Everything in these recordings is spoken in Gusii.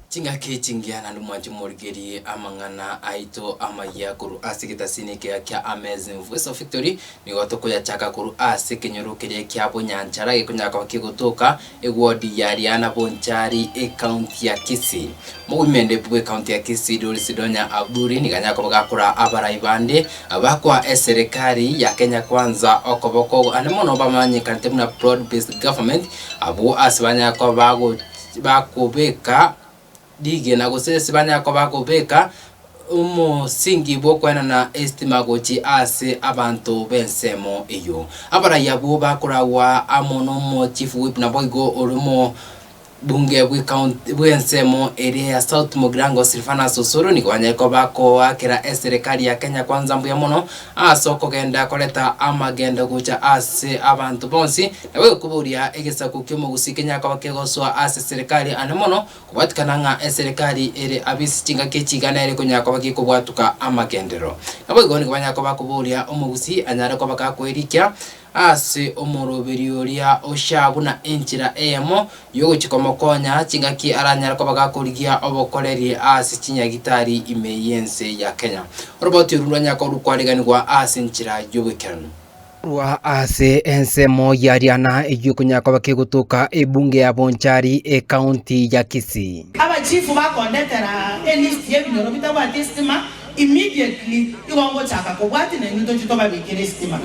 Chingaki echingiya naende mwanche morigerie amang'ana aito amayia korwa ase egetasini ekeyia kia Amazing Voice of Victory, Nigo tokoyachaka korwa ase ekenyoro keria kia Bunyanchara gekonyara koba kegotoka ewodi ya Riana Bonchari, Ekaunti ya Kisii. Mogoimendeku bw'ekaunti ya Kisii Doris Donya Aburi nigo anyare koba gakoraa abarai bande bakoa eserekari ya Kenya Kwanza okoboko ande mono bamanyekanete buna broad based government abwo ase banyare koba bagokobeka rigena gose ase banyare koba bagobeka omosingi bw'okwenana esitima gochia ase abanto b'ensemo eyio. Abarai abwo bakoragwa amo n'omochifu whip naboigo ore omobunge bw'ekaunti bw'ensemo eria ya South Mugirango Silvanus Osoro nigo banyare koba bakoakera eserekari ya Kenya Kwanza mbuya mono ase okogenda koreta amagendo gocha ase abanto bonsi naboigo koboria egesaku ki'omogusi kenyare koba kegosoa ase eserekari aande mono Kobatikana ng'a eserekari ere ab'ense chingaki echi igana ere konyara koba gekobwatuka amagenderero. Naboigo nigo banyara koba koboria omogusi anyare koba gakoirikia ase omoroberi oria oshare buna enchera eyemo y'ogochia komokonya chingaki aranyare koba gakorigia obokoreri ase chinyagitari ime y'ense ya Kenya. Oroboti oru nrwanyare koba rokwareganigwa ase enchera y'oboikeranu. Korwa ase ensemo ya riana eyio konya koba kegotoka ebunge ya Bonchari ecounty ya Kisii. Abachifu bakondetera elist yebinyoro bitabwati estima immediately igo ngochaka kobwati na inwe tochie tobabikere estima.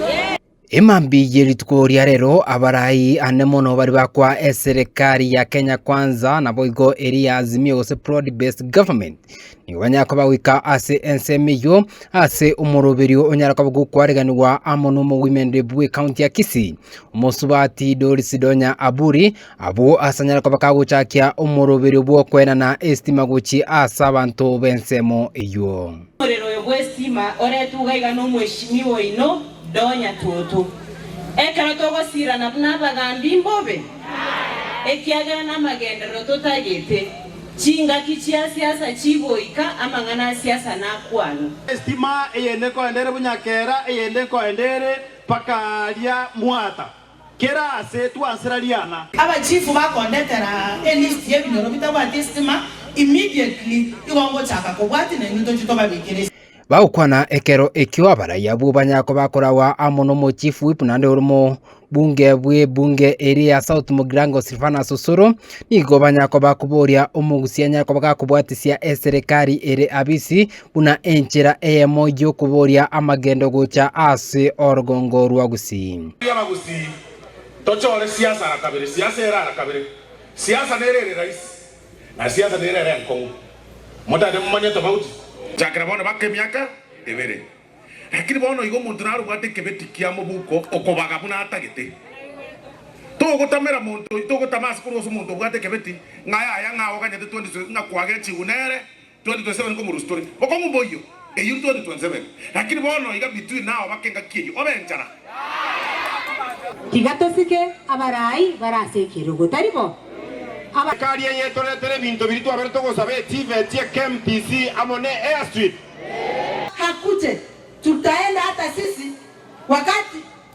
Emambia ye rituko ria rero abarai ane mono bari bakwa eserekari ya Kenya Kwanza naboigo eri ya Azimio gose Broad Based Government Nigo banyare koba goika ase ensemo eyio ase omoroberio onyare koba gokwareganigwa amo n'omogwimende bwe county ya Kisii, omosubati Doris Donya Aburi, abwo ase anyare koba kagochakia omoroberio bw'okoenana esitima gochia ase abanto b'ensemo eyio. Omorero oyo bw'esitima oretugwa iga n'omweshimiwa oino Donya Tutu, Ekero togosirana buna abagambi mbobe, ekiagera namagenderero totagete. Chingaki chia siasa chigoika, amang'ana a siasa nakwano. Estima eyende nkoende ere buna kera eyende nkoende ere mpaka aria mwata, kera aase twansera riana. Abachifu bakondetera elisti yebinyoro bitabwati estima, immediately igo ngochaka kobwati nainwe toche tobabekere estima. Bagokwana ekero ekio abarai abwo banyako bakoragwa amo n'omochief whip naende omobunge bw'ebunge eri ya South Mugirango Silvanus Osoro, nigo banyakoba koboria omogusia nyakoba gakobwatisia eserekari ere Abisi buna enchera eyemo y'okoboria amagendo gocha ase orogongo rwa Gusii. Baria Abagusii tochore siasa ara kabere, siasa ere ara kabere, siasa nere ere raisi. Na siasa nere ere enkong'u, motagete momanye etobauti. Chakera bono baka emiaka ebere, lakini bono igo omonto narobwate ekebeti kia mobuko okobaga buna atagete. Togotamera monto, togotama ase korwa ase omonto obwate ekebeti, ng'a yaya ng'a oganyete 20 ng'a kwagechigwe nere, 27 komorusia tore bokong'u mboyio eyuru 2027 lakini bono iga bitui nao bake engaki eyio obe enchara. Tiga tosike abarai bare ase ekerogo, tari bo? Aba. Ekari eye etoretere ebinto biria twaberete gosaba etivet ye KMTC amo ne airstrip. Hakute tutaenda hata sisi wakati.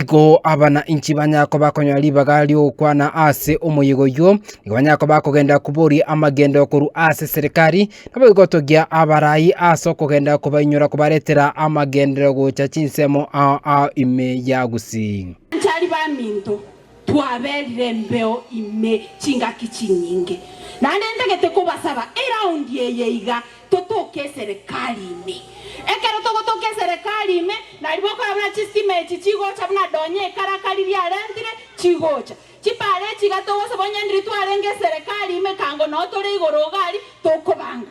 Igo abana inchi banyare koba bakonyora ribaga ri'ogokwana ase omoyega oyio, nigo banyare koba bakogenda koboria amagendo korwa ase eserekari, nabo igotogia abarai ase okogenda kobainyora kobaretera amagenderero gocha chinsemo ime ya gusii. Anchari baminto. Twaberire embeo ime chingaki chinyinge, naende ntagete kobasaba eraundi eye iga totoke eserekari ime. Ekero togotoka eserekari ime, naribo okora buna chistima echi chigocha buna donye ekarakari riarentire chigocha. Chibare echi iga togosaba onye ndiri twarenge eserekari ime, ekango noo tore igoro ogari tokobanga.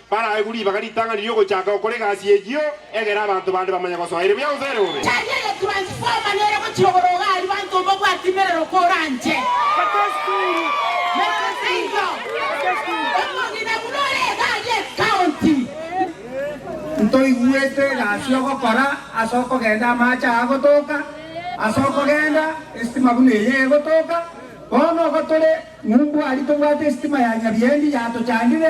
Baraegwe ribaga ritang'ani ri'ogochaka gokora egasi eyio, egere abanto bande bamanye gosoa ere buya gose ere bobe. Church eye transformer nere gochirogoria iga aria banto omobwati merero koranche. Merero seiyo. Omogina buna ore iga aria ecounty. Ntoigwete egasi ogokora ase okogenda amache aa agotoka ase okogenda esitima buna eye egotoka bono ogo tore ng'umbu aria tobwate esitima ya nyabiendi yatochandire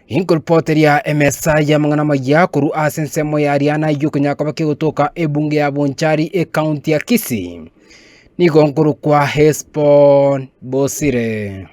Inkoripoteria emesa y'amang'ana amaya korwa ase ensemo ya riana y'okonyara koba kegotoka ebunge ya Bonchari ekaunti ya Kisii. Nigo nkorokwa Hesbon Bosire.